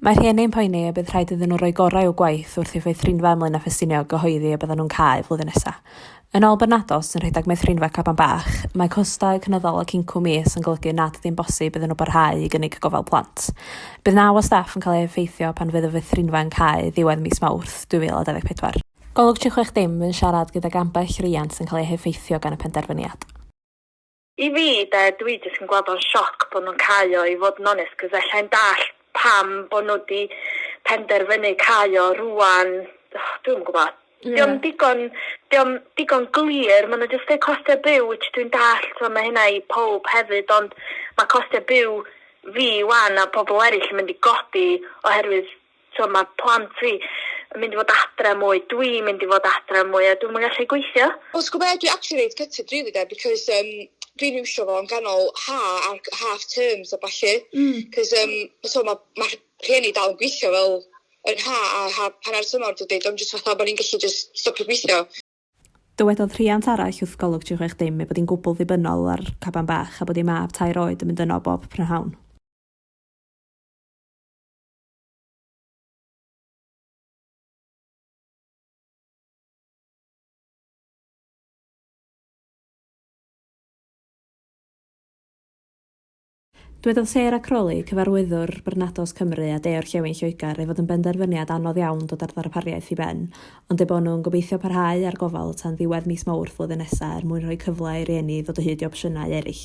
Mae rhieni'n poeni y bydd rhaid iddyn nhw roi gorau i'w gwaith wrth i'w meithrinfa ymlaen â Ffestiniog gyhoeddi y byddan nhw'n cau flwyddyn nesaf. Yn ôl Bernados, sy'n rhedeg meithrinfa Caban Bach, mae costau cynyddol ac incwm is yn golygu nad ydyn bosib iddyn nhw barhau i gynnig gofal plant. Bydd naw o staff yn cael ei effeithio pan fydd y feithrinfa yn cau ddiwedd mis Mawrth 2024. Golwg 36 Dim yn siarad gydag ambell riant sy'n cael eu heffeithio gan y penderfyniad. I fi, de, dwi jyst yn gweld o'n sioc bod nhw'n cau o i fod yn onest cos ella i'n dallt pam bod nhw wedi penderfynu cau o rwan, oh, dwi'm yn gwybod. Yeah. Diolch digon, diolch digon glir, maen nhw jyst dweud costau byw, which dwi'n dallt, so mae hynna i pob hefyd, ond mae costau byw fi wan a pobl eraill yn mynd i godi oherwydd t'o' ma' plant fi yn mynd i fod adre mwy dwi'n mynd i fod adre mwy a dwi'm yn gallu gweithio. Wel ti gwbo be' dwi actually reit gutted rili 'de because yym dwi'n iwsio fo yn ganol ha' ar c- half terms a ballu. Hmm. 'C'os yym t'o' ma' ma' rh- rhieni dal yn gwithio fel yn ha' a ha- hannar tymor dydi do'n jyst fatha bo' ni'n gallu jyst stopio gwithio. Dywedodd rhiant arall wrth Golwg 360 ei bod hi'n gwbl ddibynnol ar Caban Bach a bod ei mab tair oed yn mynd yno bob prynhawn. Dwedodd Sarah Crawley, Cyfarwyddwr Barnardo's Cymru a De-orllewin Lloegr, ei fod yn benderfyniad anodd iawn dod â'r ddarpariaeth i ben, ond eu bod nhw'n gobeithio parhau â'r gofal tan ddiwedd mis Mawrth flwyddyn nesaf er mwyn rhoi cyfle i rieni ddod o hyd i opsiynau eraill.